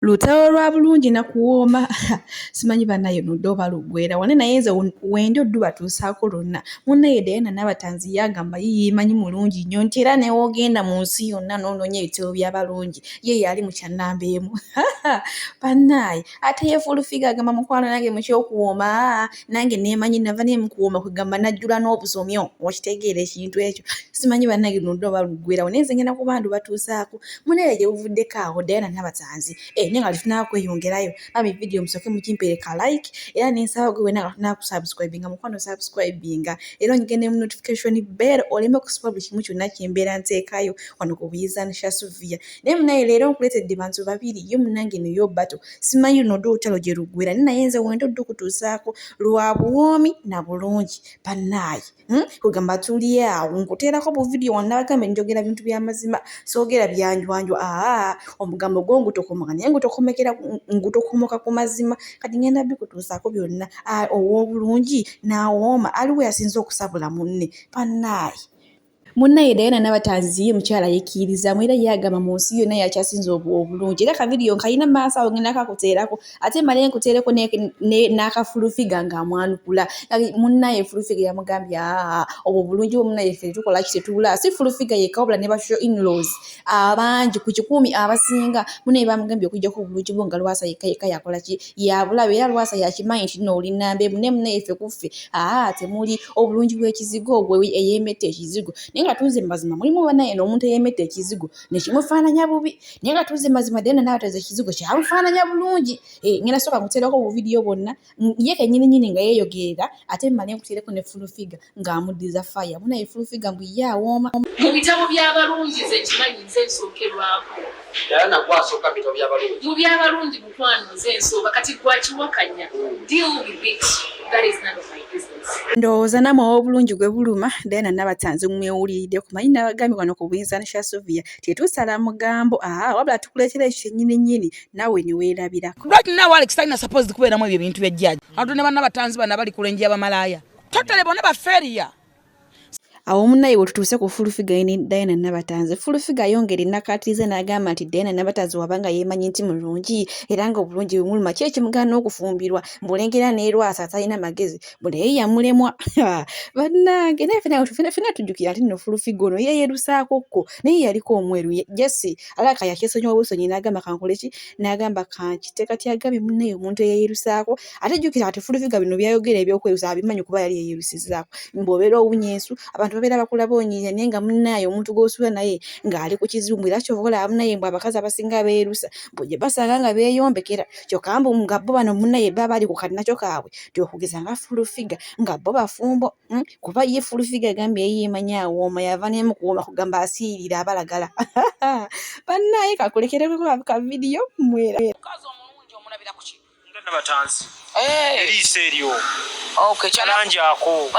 Lutalo lwa bulungi na kuwooma simanyi banaye ludde oba luggwera wani naye nze wendi oddu batuusaako lwonna munaye Diana Nabatanzi yagamba ye yeemanyi mulungi nnyo nti era newoogenda mu nsi yonna n'onoonya ebitabo by'abalungi ye yaali mu kyannamba emu banaye ate ye fulufiga agamba mukwano nange mukyokuwooma nange nemanyi nava naye mukuwoma kwegamba najjula n'obusomyo okitegeera ekintu ekyo simanyi banange lundi oba luggwerawo naye nze ngenda kuba ndubatuusaako munaye gye buvuddeko awo dayana nabatanzi e eh, naye nga tufunaa kweyongerayo bami vidiyo musooke mukimpere ka like era nensaba gwe wena nga tufunaa kusubscribinga mukwano subscribinga era onyigende mu notification bell oleme okusiba buli kimu kyonna kyembeera nteekayo wano ku buyiza nsha suvia naye munaye leero nkuleetedde bantu babiri ye munange neyo bato simanyi luno dda olutalo gye luggwera ni naye nze wenda odda okutuusaako lwa buwoomi na bulungi bannaaye hmm? kwegamba tuli awo nkuteerako buvidiyo wanabagambe njogera bintu byamazima soogera byanjwanjwa aa omugambo gwo ngutokomoka naye ngutokomekera ngutokomoka ku mazima kati ngenda bikutuusaako byonna ow'obulungi n'awooma aliwo yasinza okusabula munne bannaaye munna ye dayana nabatanzi ye mukyala yekkirizamu era ye agamba mu nsi yonna yakyasinza obulungi era kavidiyo nkalina mu maaso awo ngenda kakuteerako ate male nkuteereko n'akafulufiga ng'amwanukula munna ye fulufiga yamugambye aa obwo obulungi bwo munna yeffe tukola ki tetubula si fulufiga yekka wabula ne basho inlaws abangi ku kikuumi abasinga munna ye bamugambye okujjako obulungi bwo nga lwasa yekka yekka yakola ki yabulabe era lwasa yakimanyi nti no oli namba emu naye munaye ffe kuffe aa temuli obulungi bw'ekizigo ogwe eyemetta ekizigo naye nga tuuze mazima mulimu banaye n'omuntu eyemetta ekizigo nekimufaananya bubi naye nga tuuze mazima dena nabateza ekizigo kyamufaananya bulungi eh, ngenda soka nkutereko obuvidiyo bwonna ye kenyini nyini nga yeyogerera ate male nkutereko ne fulu figa ng'amuddiza faya muna ye fulufiga mbu ye awooma mu bitabo by'abalungi nze nkimanyi nze nsookerwako era nagwe asooka mu bitabo by'abalungi mu by'abalungi mukwano nze nsooka kati gwakiwakanya deal with it that is none of my business ndowooza namwe ow'obulungi gwe buluma diana nabatanzi mwewuliridde kumanyi nabagambye wano ku buyinza nsha sovia tetusala mugambo aa wabula tukuleetera ekyo kyennyini nnyini nawe ne weerabira right now alex talina supposed kubeeramu ebyo ebintu byajjaaji abantu ne banna batanzi bana bali kulenji abamalaaya totale bona baferiya awo munaye wetutuuse ku fulufiga ne diana nabatanzi fulufiga ayongera enakatiriza n'agamba nti diana nabatanzi wabanga yemanyi nti mulungi era nga obulungi bumuluma ki ekimugaana okufumbirwa mbulengera neerwasa atalina magezi bunaye yamulemwa bannange naye fena tujjukira nti no fulufiga ono yeyerusaako kko naye yaliko omweru jesi alaka yakyesonyiwa busonyi n'agamba kankoleki n'agamba kankite kati agambye munaye omuntu eyeyerusaako ate jjukira kati fulufiga bino byayogera ebyokwerusa abimanyi kuba yali yeyerusizaako ng'obeera owunya ensu abantu babeera bakulaba onyiinya naye nga munaaye omuntu gw'osula naye ng'ali ku kizungu era kyova olaba munaye mbu abakazi abasinga beerusa mbu gye basanga nga beeyombekera kyokka mbu nga bo bano munaye baba bali ku kalinakyo kaabwe tyokugeza nga fulufiga nga bo bafumbo hmm? kuba ye fulufiga agambye yeyeemanyi awooma yava nemu kuwooma kugamba asiirira abalagala banaaye kakulekereko kavidiyo mwera eriiso eryo kalangi ako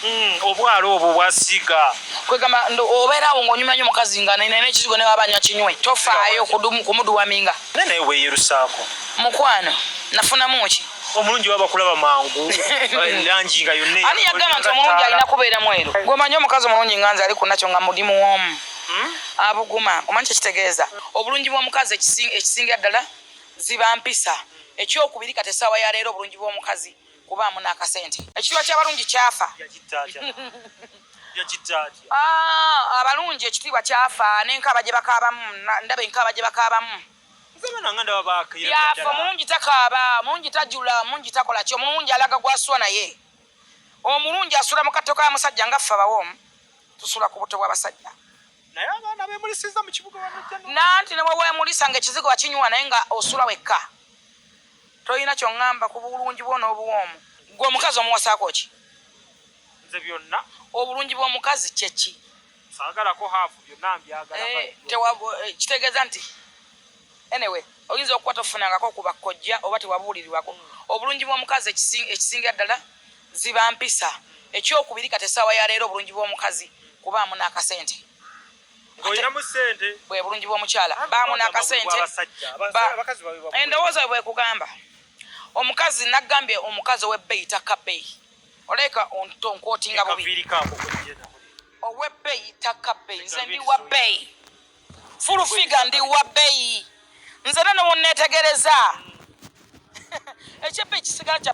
hmm, obwala obwo bwasiiga kwegamba obeera awo ngaonyuma nyo mukazi nga nene ekizigo newaba anywa kinywe tofaayo kumuduwaminga naye naye weyerusaako mukwano nafunamu ki omulungi baba kulaba mangu langi nga yonna ani yagamba nti omulungi alina kubeera mweru gwemanyi omukazi omulungi nga nze ali ku nakyo nga mudi muwoomu hmm? abuguma omanyi kyekitegeeza obulungi bw'omukazi ekisinga ddala Ziba mpisa. Ekyokubiri kati essaawa ya leero obulungi bw'omukazi kubaamu n'akasente. Ekitibwa ky'abalungi kyafa. Ah, abalungi ekitiibwa kyafa n'enkaaba gye bakaabamu ndaba enkaaba gye bakaabamu byafa. Omulungi takaaba, omulungi tajula, omulungi takola ki, omulungi alaga gw'asula naye. Omulungi asula mu katto ka musajja nga ffe abawoomu tusula ku butto bw'abasajja. naye abaana bemulisiza mukibuga nanti newewemulisa nga ekizigo wakinywa naye nga osula wekka tolina kyoŋamba ku bulungi bwo n'obuwoomu gwe omukazi omuwasaako ki nze byonna obulungi bw'omukazi kyeki sagalako haafu byonna mbyagala eh, eh, kitegeeza nti Anyway, oyinza okuba tofunangako ku bakkojja oba tewabuulirirwako obulungi bw'omukazi. Ekisingira ddala ziba mpisa. Ekyokubiri, kati essaawa ya leero obulungi bw'omukazi kubaamu n'akasente. Bwe bulungi bw'omukyala baamu n'akasente. Endowooza bwe kugamba omukazi nagambye omukazi ow'ebbeeyi takka bbeeyi. Oleka ontonkotinga bubi. Ow'ebbeeyi takka bbeeyi. Nze ndi wa bbeeyi. full figure ndi wa bbeyi nze nene wonneetegereza ekyeppa ekisigala kya